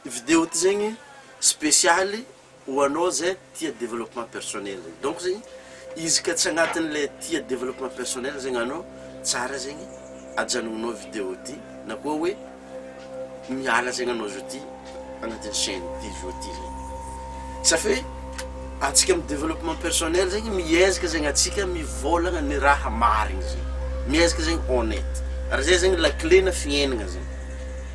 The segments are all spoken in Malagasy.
Video ty zegny spesialy ho anao zay tia developpement personnel zegny. Donc zegny izy ka tsy agnatin'ny le tia developpement personnel zegny anao, tsara zegny ajanognao video ty na koa hoe miala zegny anao zao ty agnatin'ny chaine ty zao ty zegny. Safe antsika am developpement personnel zegny miezaka zegny antsika mivôlagna ny raha marigny zegny, miezaka zegny honnête ary zay zegny la clé na fiainagna zegny.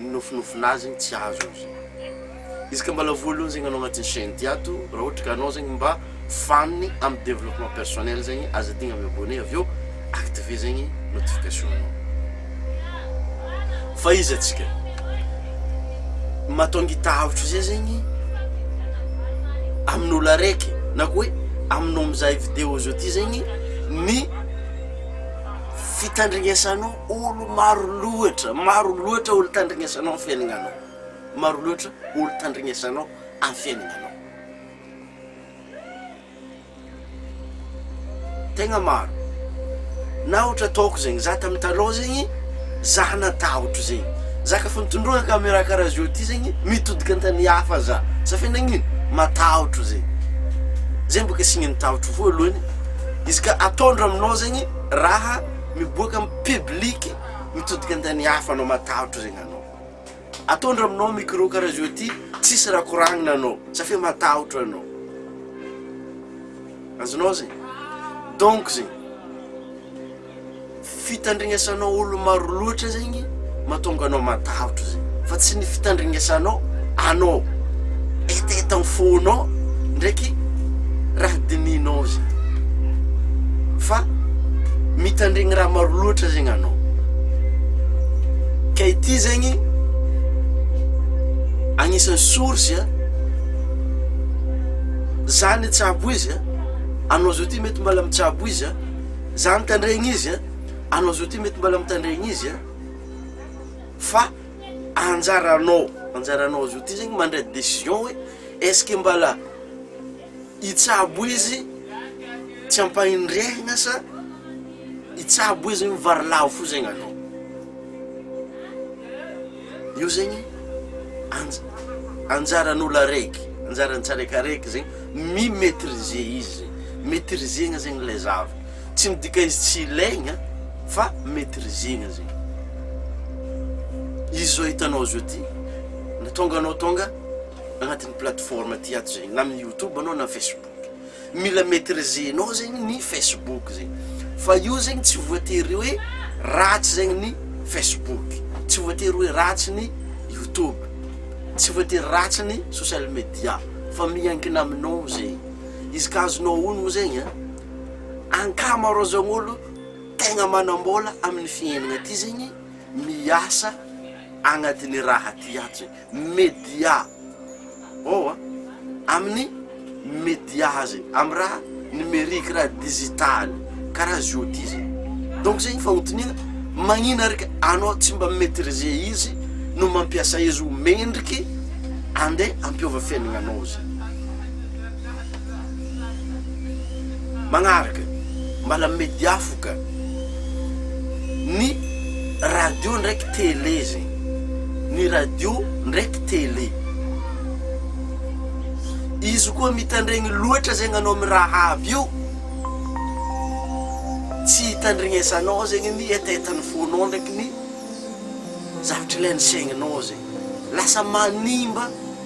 Ny nofinofina azy igny tsy azo io zay. Izy ka mbala voalohany zegny anao agnatin'ny chaine ty ato raha ohatra ka anao zegny mba fan amin'ny développement personnel zegny aza adigna mi abonner avy eo activer zegny notification nao. Fa izy atsika mahatonga itahotro zay zegny amin'olo araiky na koa hoe aminao mizaha video zao ty zegny ny fitandregnesanao. Olo maro loatra, maro loatra olo tandrignesanao am fiainanao, maro loatra olo tandrignesanao am fiainanao, tegna maro, na ohatra ataoko zegny, za tam talon zegny, za natahotro zegny, za ka fa mitondroka camera karaha zao ty zegny, mitodika an tany hafa za, safia nagnino? matahotro zegny, zegny boka signe ny tahotro voalohany, izy ka ataondro aminao zegny raha. Miboaka am public mitodika antany hafa anao matahotra zegny anao. Ataondry aminao micro karaha zao ty tsisy raha koragnina anao safia matahotra anao. Azonao zegny? Donc zegny fitandrignesanao olo maro loatra zegny. Mahatonga anao matahotra izay, fa tsy ny fitandringesanao anao hetaheta ny fonao ndraiky raha dinihinao izay, fa mitandregny raha maro loatra zegny anao, ka ity zegny agnisan'ny source a, za nitsabo izy a, anao zao ty mety mbola mitsabo izy a, za nitandregny izy a. Anao zao ty mety mbala mitandrey ny izy an! Fa anjaranao, anjaranao zao ty zegny mandray decision hoe est-ce que mbala hitsabo izy tsy ampahendrehagna sa hitsabo izy mivary lavo fo zegny anao. Io zegny anjaran'olo araiky, anjaran'ny tsiraikaraiky zegny mi-maitriser izy zegny, maitriser-na zegny ilay zavatra, tsy midika izy tsy ilaigna fa maitriser-na zegny, izy zao hitanao zao ty na tonga anao tonga agnatin'ny plateforme ty ato zegny na amin'ny youtube anao na facebook. Mila maitrisenao zegny ny Facebook zegny fa io zegny tsy voatery hoe ratsy zegny ny Facebook, tsy voatery hoe ratsy ny YouTube, tsy voatery ratsy ny social media fa miankina aminao zegny, izy ka azonao honogno zegny an, ankamaroazan'olo tegna manam-bola amin'ny fiaignana ty zegny miasa agnatin'ny raha ty ato zegny, media ao a, amin'ny media zay, amin'ny raha numerique, raha digital, karaha azy io ty zay, donc zay ny fagnotaniana, magnina ary ka anao tsy mba mi-maitriser izy no mampiasa izy ho mendriky andeha hampiova fiaignanao zay. Magnaraka, mbala media fo ka. Ny radio ndraiky télé zegny, ny radio ndraiky télé. Izy koa mitandregny loatra zegny anao amy raha avy eo, tsy itandregnesanao zegny ny hetahetan'ny fonao ndraiky ny zavatra ilain'ny saigninao zegny. Lasa manimba.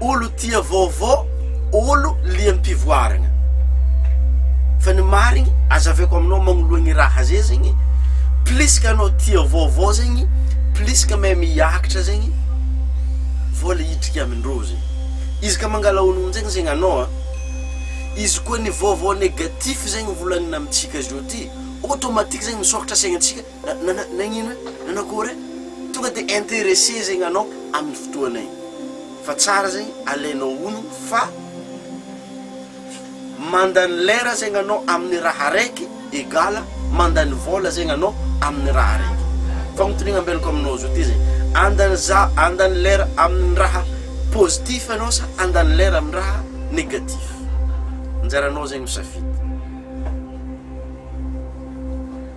olo tia vaovao, olo liam-pivoarana. Fa ny marigny azaveko aminao magnoloa ny raha zay zegny, plus ka anao tia vaovao zegny, plus ka mahay miakatra zegny, vola hidriky amindreo zegny. Izy ka mangala onony zegny zegny anao an, izy koa ny vaovao negatif zegny volagnina amintsika zao ty, automatique zegny misôkatra saignintsika. Nagnino? Nanakory? Tonga de interesse zegny anao amin'ny fotoana igny fa tsara zegny alainao honogno fa mandany lera zegny anao amin'ny raha araiky egale mandany vola zegny anao amin'ny raha araiky. Fagnotaniagna ambelako aminao zao ty zegny, andany za- andany lera amin'ny raha positif anao sa andany lera amin'ny raha négatif? Anjaranao zegny misafidy.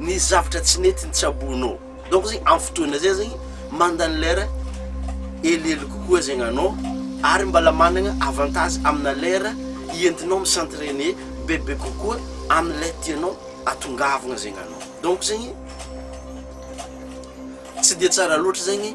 ny zavatra tsy nety nitsaboanao donc zegny am fotoana zay zegny mandany lera helihely kokoa zegny anao ary mbala managna avantage amina lera ientinao mi s'entrainer bebe kokoa amle tianao atongavagna zegny anao donc zegny tsy de tsara loatra zegny.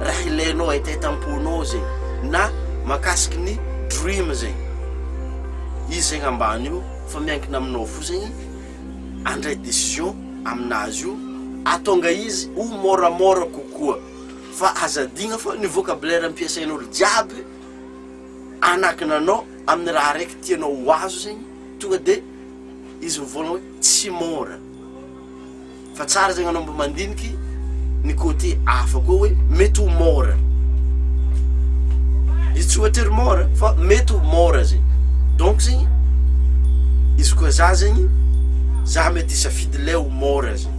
raha ilainao ay tête amponao zegny na makasiky ny dream zegny izy zegny ambany io fa miankina aminao fo zegny andray décision aminazy io atonga izy ho môramôra kokoa fa aza adigna fa ny vocabulaire ampiasain'olo jiaby anakina anao amin'ny raha araiky tianao ho azo zegny tonga de izy mivôlagna hoe tsy môra Fa tsara zegny anao mba mandiniky ny côté hafa koa hoe mety ho môra. Izy tsy voatery môra fa mety ho môra zegny. Donc zegny izy koa za zegny za mety hisafidy le ho môra zegny.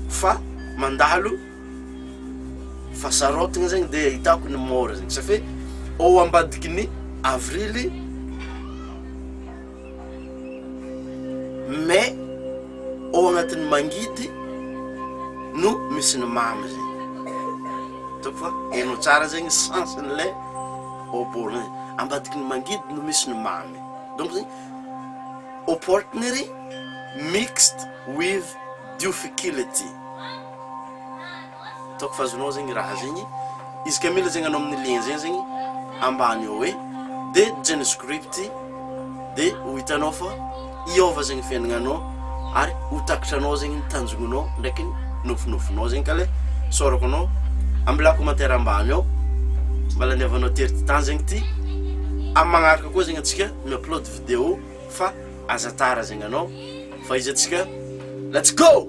Fa mandalo fa sarôtigny zegny de ahitako ny môra zegny. Safe ô ambadiky ny avrily. mais ao agnatin'ny mangidy no misy ny mamy zegny, hitako fa hainao tsara zegny sens an'ilay oppo-na e, ambadiky ny mangidy no misy ny mamy, donc zegny opportunity mixed with dufficility. Hitako fa azonao zegny raha zegny. Izy ka mila zegny anao amin'ny lien zegny zegny ambany ao e, de geno script de ho hitanao fa hiôva zegny fiaignananao ary ho takatranao zegny ny tanjognonao ndraiky ny nofinofinao zegny ka le saorako anao ambilà commentaire ambany ao mba laniavanao tery ty tany zegny ty amin'ny magnaraka koa zegny antsika mi-upload video fa aza tara zegny anao fa izy antsika let's go!